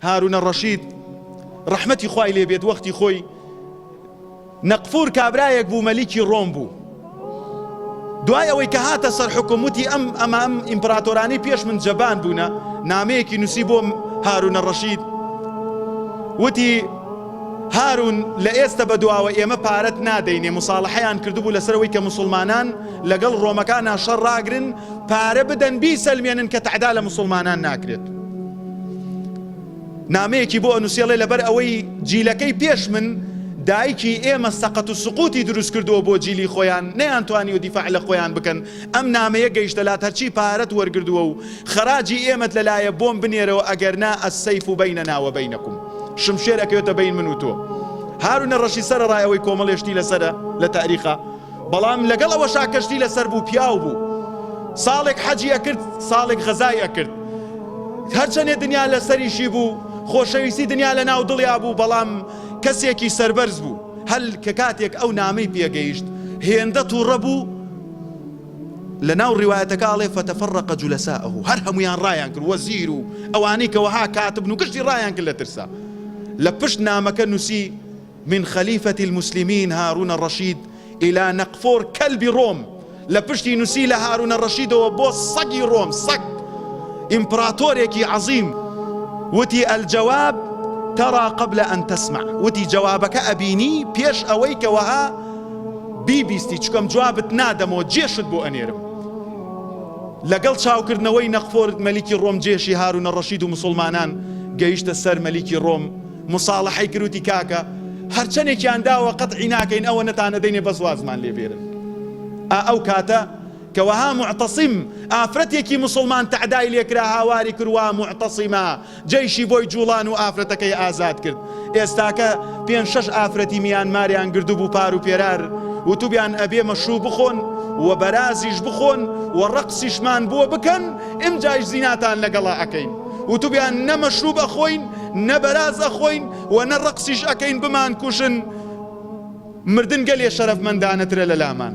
هارونە ڕەشید ڕەحمەتی خوای لێ بێت وەختی خۆی نەقفور کابرایەک بوو مەلیکی ڕۆم بوو دوای ئەوەی کە هاتە سەر حکم وتی ئەم ئەمام ئیمپراتۆرانی پێش من جەبان بوونە نامەیەکی نووسی بۆم هارونە ڕەشید وتی هارون لە ئێستا بە دواوە ئێمە پارەت نادەینێ مساڵحەیان کردبوو لەسەرەوەی کە مسلمانان لەگەڵ ڕۆمەکان ناشەڕ ڕاگرن پارە بدەن بی سەلمێنن کە تەعدا لە مسلمانان ناکرێت نامەیەکی بۆ ئەنووسی ئەڵێ لەبەر ئەوەی جیلەکەی پێش من دایکی ئێمە سەقەت و سقوتی دروست کردووە بۆ جیلی خۆیان نەیان توانی و دیفاع لە خۆیان بکەن ئەم نامەیە گەیشتە لات هەرچی پارەت وەرگردووە و خەراجی ئێمەت لەلایە بۆم بنێرەوە ئەگەر نا ئەسەیف و بینە ناوە بینەکم شمشێر ئەکەوێتە بین من و تۆ هارونە ڕەشی سەرەڕای ئەوەی کۆمەڵێشتی لەسەرە لە تاریخە بەڵام لەگەڵ ئەوەشا کەشتی لەسەر بوو پیاو بوو ساڵێک حەجی ئەکرد ساڵێک غەزای ئەکرد هەرچەنێ دنیا لەسەریشی بوو خۆشەویستی دنیا لە ناو دڵیا بوو بەڵام کەسێکی سەربەرز بوو هەل کە کاتێک ئەو نامەی پێگەیشت هێندە توڕە بوو لە ناو ڕیوایەتەکە ئەڵێ فەتەفەڕەقە جولەسائەهو هەر هەمویان ڕایان کرد وەزیر و ئەوانەی کە وەها کاتبن و گشتی ڕایان کرد لە ترسا لە پشت نامەکە نووسی من خلیفە المسلمین هارون رشید الی نقفور کلب روم لە پشتی نوسی لە هارون رشیدەوە بۆ سەگی رۆم سەگ ئیمپراتۆرێکی عەزیم وتی الجواب ترا قبل ان تسمع وتی جوابەکە ئەبینی پێش ئەوەی کە وەها بیبیستی چکەم جوابت نادەمەوە جێشت بۆ ئەنێرم لەگەڵ چاوکردنەوەی نەخفۆر مەلیکی ڕۆم جێشی هارو نەڕەشید و مسلمانان گەیشتە سەر مەلیکی ڕۆم موساڵەحەی کرد وتی کاکە هەرچەنێکیان داوە قەتعی ناکەین ئەوەنەتان ئەدەینێ بەس وازمان لێ بێرن ئا ئەو کاتە کە وەها معتەسیم ئافرەتێکی موسڵمان تەعدای لێکرا هاواری کروا معتەسیمە جەیشی بۆی جوڵان و ئافرەتەکەی ئازاد کرد ئێستاکە پێنج شەش ئافرەتی میانماریان گردبوو پار و پێرار وتوبیان ئەبێ مەشروب بخۆن و بەرازیش بخۆن و ڕەقسیشمان بۆ بکەن ئمجایش زیناتان لەگەڵا ئەکەین وتبویان نە مەشروب ئەخۆین نە بەراز ئەخۆین و نە ڕەقسیش ئەکەین بمانکوژن مردن گەلێ شەرەفمەندانەترە لەلامان.